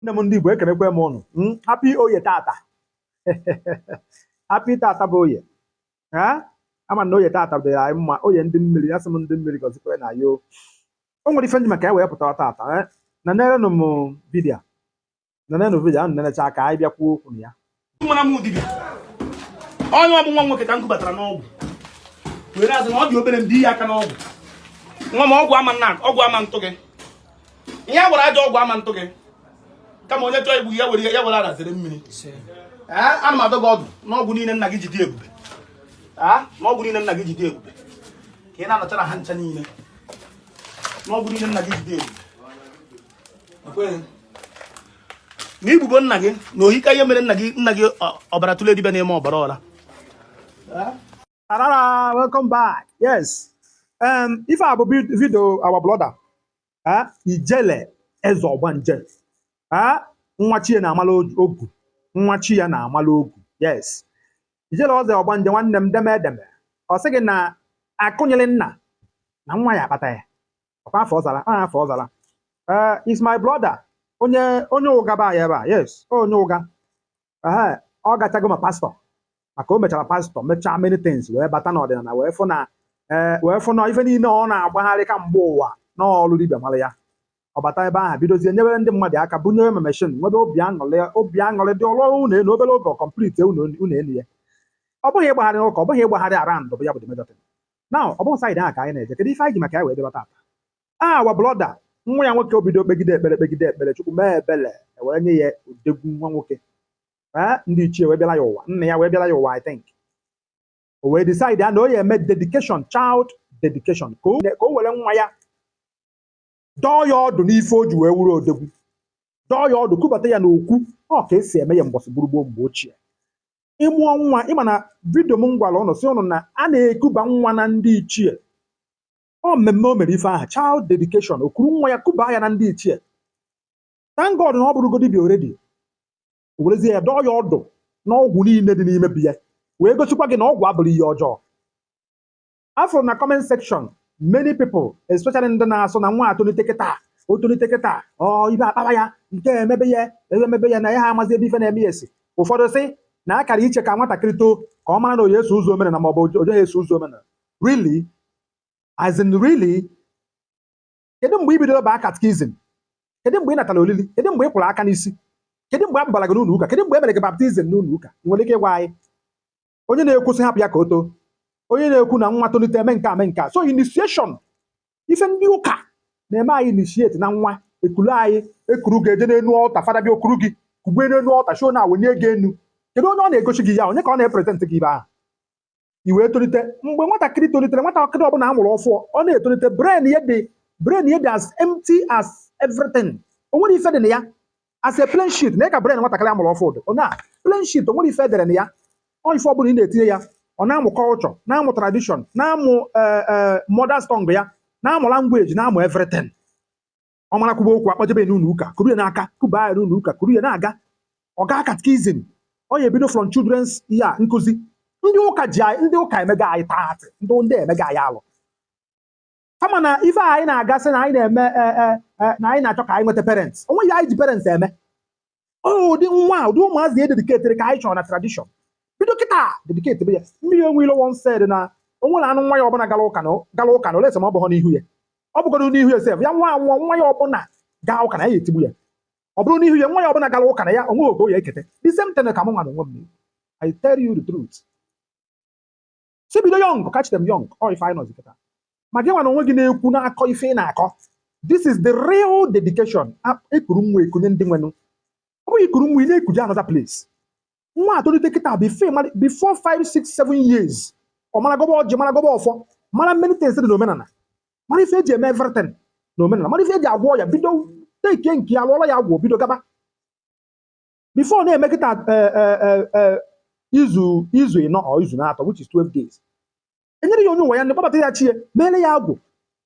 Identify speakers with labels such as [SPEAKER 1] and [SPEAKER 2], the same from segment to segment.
[SPEAKER 1] nne m ndị Igbo ekenekwa m ụnụ hmm? happy oye tata happy tata bụ oye ama na oye tata dịrị anyị mma oye ndị mmiri ya sị m ndị mmiri gọzikwere na ya o nwere ife m ji maka ya wee pụta tata eh? na nerenụ m vidio na nenụ vidio ahụ nenecha ka anyị bịa kwuo okwu na ya mara m wụ
[SPEAKER 2] dibịa onye ọ bụ nwa nwoke ka m kubatara n'ọgwụ were si na ọ dị obere mbi ya aka n'ọgwụ nwa m ọgwụ ama atụ gị ihe a gwọrọ ajọ ọgwụ ama atụ gị kama onye chọọ igbu ya were ya were arazere mmiri ana m adọ gị ọdụ n'ọgwụ niile nna gị ji dị ebube n'ọgwụ niile nna gị ji dị ebube ka ị na-anachara ha ncha niile n'ọgwụ niile nna gị ji dị ebube na igbubo nna gị na ohika ihe mere nna gị ọbara tụle dibịa n'ime ọbara ọla Arara,
[SPEAKER 1] welcome back. Yes. Um, ife a bụ video our brother, uh, Ijele Eze Ọgbanje, uh, nwa chi ya na-amala ọgwụ, nwa chi ya na-amala ọgwụ. Yes. Ijele Eze Ọgbanje nwanne m deme edeme. Ọ sị gị na akụ nyịrị nna na nwa ya akpata ya. ọkwa afọ ọzara a afọ ọzara ee is my brother onye onye Ụga be anyị ebe a yes onye Ụga ee ọ gachago ma pastor maka o mechara pastor mechaa many things wee bata n'ọdịnala wee fụ na ee wee fụ na ife niile ọ na-agbagharị kamgbe ụwa n'ọlụ dibịa mara ya ọ bata ebe ahụ bidozie nyewere ndị mmadụ aka bunyere ma machine nwebe obi aṅụrị obi aṅụrị dị ọ rụọ ụnọ enu obere oge complete ụnọ ụnọ enu ya ọ bụghị ịgbagharị n'ụka ọ bụghị ịgbagharị around bụ ya bụ the major thing. now ọ bụghị side ahụ ka anyị na-eje kedu ife anyị ji maka ya wee bịa eba tata our brother nwa ya nwoke o bido kpegide ekpere kpegide ekpere chukwu mee ebele wee nye ya odegwu nwa nwoke ee ndị ichie wee bịara ya ụwa nna ya wee bịara ya ụwa i think o wee decide na ọ ya-eme dedication child dedication ka o ka o were nwa ya dọọ ya ọdụ n'ife o ji wee wụrụ odogwu dọọ ya ọdụ kubata ya n'okwu ọ ka e si eme ya mbọsị gboo gboo mgbe ochie ị mụọ nwa ị ma na vidio m gwara ụnụ sị ụnụ na a na-ekuba nwa na ndị ichie ọ mmemme o mere ife ahụ child dedication o kuru nwa ya kuba ya na ndị ichie thank God na ọ bụrụgo dibịa already o werezie ya dọọ ya ọdụ n'ọgwụ niile dị n'ime be ya wee gosikwa gị na ọgwụ abụrọ ihe ọjọọ afụrụ m na comment section many people especially ndị na-asị na nwa a tolite kịta o tolite kịta ọ ibe akpara ya nke emebe ya ebe emebe ya na ya ha amazi ebe ife na-eme ya esi ụfọdụ sị na a kara iche ka nwatakịrị too ka ọ mara na ọ ya-eso ụzọ omenala ma ọ bụ oje ya eso ụzọ omenala really as in really kedu mgbe i bidoro baa catechism kedu mgbe ị natara olili kedu mgbe ị kwụrụ aka n'isi kedu mgbe a gbara gị n'ụlọ ụka kedu mgbe e mere gị baptism n'ụlọ ụka ị nwere ike ịgwa anyị onye na-ekwu sị hapụ ya ka o too onye na-ekwu na nwa tolite eme nke a mee nke a so initiation ife ndị ụka na-eme anyị initiate na nwa ekulu anyị ekuru gị eje n'enu altar fada bịa okuru gị kugbe n'enu altar show na wenye gị enu kedu onye ọ na-egosi gị ya onye ka ọ na-epresent gị ebe ahụ i wee tolite mgbe nwatakịrị tolitere nwatakịrị ọbụla a mụrụ ọfụụ ọ na-etolite brain ya dị brain ya dị as empty as everything o nwerọ ife dị na ya as a plain sheet na ị ka brain nwatakịrị a mụrụ ọfụụ dị onye a plain sheet o nwerọ ife edere na ya ọ ife ọbụla ị na-etinye ya ọ na-amụ culture na-amụ tradition na-amụ eh, eh, mother's tongue ya na-amụ language na-amụ everything ọ mara kwuba okwu akpọjebe ya n'ụlọ ụka kuru ya n'aka kuba ya n'ụlọ ụka kuru ya na-aga ọ gaa catechism ọ ya-ebido from children's ya nkuzi ndị ụka ji anyị ndị ụka emego anyị taatị ndị ndị emego anyị alụ kama na ife a anyị na-agasị na anyị na-eme e, e, e, na anyị na-achọ ka anyị nweta parents o nweghị ihe anyị ji parents eme ụdị nwa ụdị ụmụazị e dedicatere ka anyị chọrọ na tradition bido kịta dedicatebe ya mmiri enwe ilo once said na onwere anụ nwa ya ọbụla gara ụka na gara ụka na unless ma ọ bụghọ n'ihu ya ọ bụgodu n'ihu ya sef ya nwa nwa nwa ya ọbụla gaa ụka na ya etigbu ya ọ bụrụ n'ihu ya nwa ya ọbụla gara ụka na ya onweghị oge ya ekete the same thing ka m nwa na onwe m I tell you the truth sị bido young catch them young ọ ife anyị nọzi kịta ma gị nwa na onwe gị na-ekwu na-akọ ife ị na-akọ this is the real dedication ekuru nwa ekunye ndị nwenụ ọ bụghị ikuru nwa ị na-ekuje another place nwa atolite kịta before 5 6 7 years ọ mara gọba ọjị mara gọba ọfọ mara many things dị n'omenala mara ife eji eme everything n'omenala mara ife eji agwọ ọya bido teke nke ya lụọla ya agwụ bido gaba before na-eme kịta eh, eh, eh, eh, izu izu ịnọ or izu n'atọ which is 12 days enyere ya onye ụwa ya ndị kpọbata ya chi e meere ya agwụ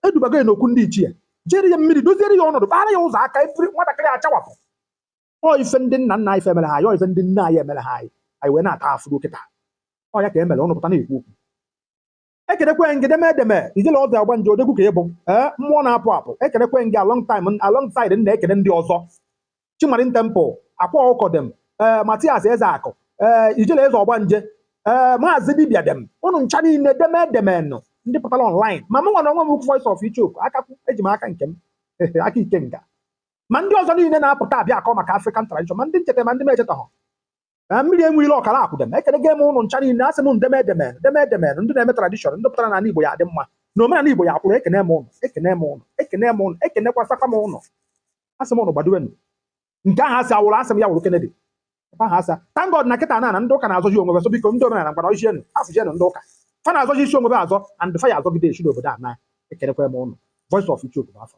[SPEAKER 1] edubago ya n'okwu ndị ichie jere ya mmiri doziere ya ọnọdụ kpaara ya ụzọ aka efere nwatakịrị achawapụ ọ ife ndị nna nna anyị fa emere ha anyị ọ ife ndị nne anyị emere ha anyị anyị wee na-ata afụfụ kịta ọ ya ka emere ọnụ pụta na-ekwu okwu ekenekwee m gị deme deme ijele eze ọgbanje odogwu ka ị bụ ee eh, mmụọ na-apụ apụ ekenekwee m gị along time alongside na-ekene ndị ọzọ chi marine temple akwa ọkụkọ dem ee eh, mathias ezeakụ ee eh, ijele eze ọgbanje ee maazị dibia dem ụnụ ncha niile deme demenụ ndị pụtara online ma mụ nwa na onwe m voice of ichoku akakwu eji m aka nke m aka ikenga ma ndị ọzọ niile na-apụta abịa akọ maka African tradition ma ndị m cheta ma ndị m echetaghọ na mmiri enwe ilo ọkara akwụ dem ekelego m ụnụ ncha niile asị m deme demenụ deme demenụ ndị na-eme tradition ndị pụtara na ala Igbo ya-adị mma na omenala Igbo ya-akwụrụ ekene m ụnụ ekene m ụnụ ekene m ụnụ ekenekwasakwa m ụnụ asị m ụnụ gbadowenụ nke ahụ asị awụrụ asị m ya wụrụ Kennedy ebe ahụ asa thank God na kịta na na ndị ụka na-azọji onwe ha so biko ndị omenala ngwara ojienụ afụjienụ ndị ụka fa na-azọji isi onwe ha azọ and fa ya-azọgide esi n'obodo a naa ekenekwa m ụnụ voice of Ichoku bụ afa